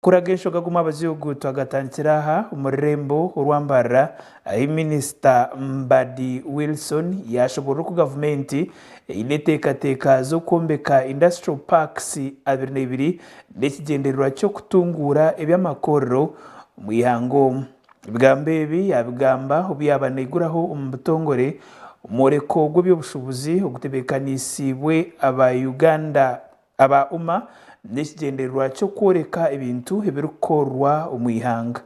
Kuraga enshoga guma abaziugu twagatandikira aha omu rurembo orwambarira ahi minisita Mbadi Wilson yaashoboorora oku gavumenti eine eteekateeka z'okwombeka Industrial Parks abiri na ibiri n'ekigyendererwa ky'okutunguura eby'amakorero omu ihanga omu. Ebigambo ebi yaabigamba obu yaaba naiguraho omu butongore omworeko gw'eby'obushubuzi ogutebeekaniisibwe aba Uganda Aba Umma n'ekigyendererwa ky'okworeka ebintu ebirikukorwa omu ihanga.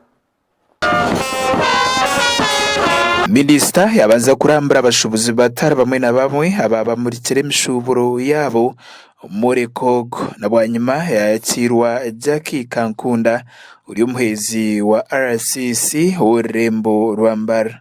Minisita yabanza kurambura abashubuzi batari bamwe na bamwe abaabamurikire emishuuburo yaabo omwore ko ogu na bwanyima yayakiirwa Jackie Kankunda ori omuheezi wa RCC ow'orurembo rwa Mbarara.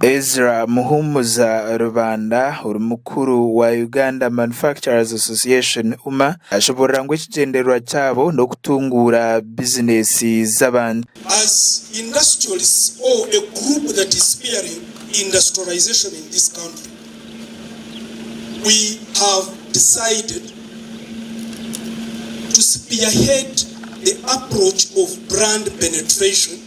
Ezra Muhumuza Rubanda ori mukuru wa Uganda Manufacturers Association, UMA, ashoboorora ngu ekigyendererwa kyabo n'okutunguura bizineesi z'abantu. As industrialists or a group that is spearing industrialization in this country, we have decided to spearhead the approach of brand penetration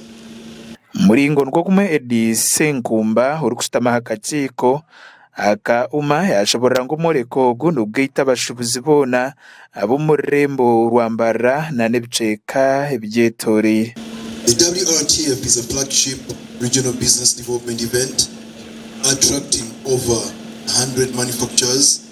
Muringo nikwo gumwe Eddy Ssenkumba orikushutama aha kakiiko aka UMA yaakiburira ngu omworeko ogu nigugaita abashubuzi boona ab'omu rurembo rwa Mbarara nana ebicweka ebigyetoreire. The WRTF is a flagship regional business development event attracting over a hundred manufacturers,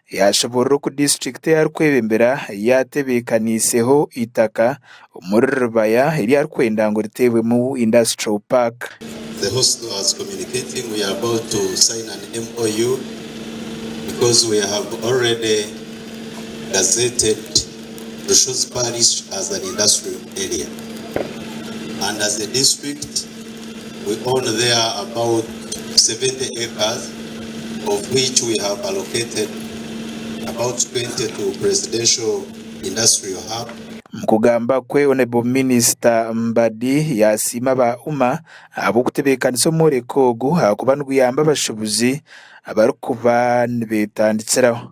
Yaashoboorora oku district ei arikwebembera yaatebeekaniiseho eitaka omuri Rubaya eri arikwenda ngu riteebwemu industrial park. we own there about 70 acres of which we have allocated about 20 to Presidential Industrial Hub. Omu kugamba kwe, Honourable Minister Mbadi yasiima aba UMA ahabw'okutebeekanisa omworeko ogu ahakuba niguyamba abashubuzi abarikuba nibetandikiraho.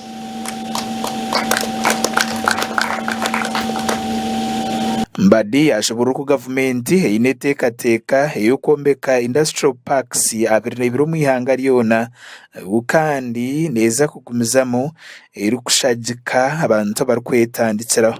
Mbadi yaashemererwa ku gavumenti eine enteekateeka ey'okwombeka Industrial Parks abiri n'ebiri omu ihanga ryona ngu kandi neeza kugumizamu erikushagika abantu abarikwetandikiraho.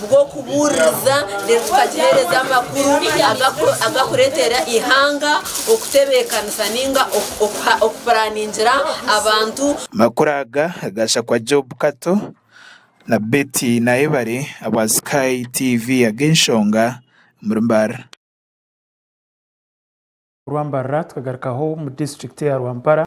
bw'okubuuririza reero tukagiheereza amakuru agakureetera eihanga okutebeekanisa nainga okupuraaningira abantu. Amakuru aga gaahitsya kwa Job Kato na Betty Nayebare aba Sky TV ag'enshonga omuri Mbarara. Rwambarara tukagarukaho omu disiturikiti ya Rwampara.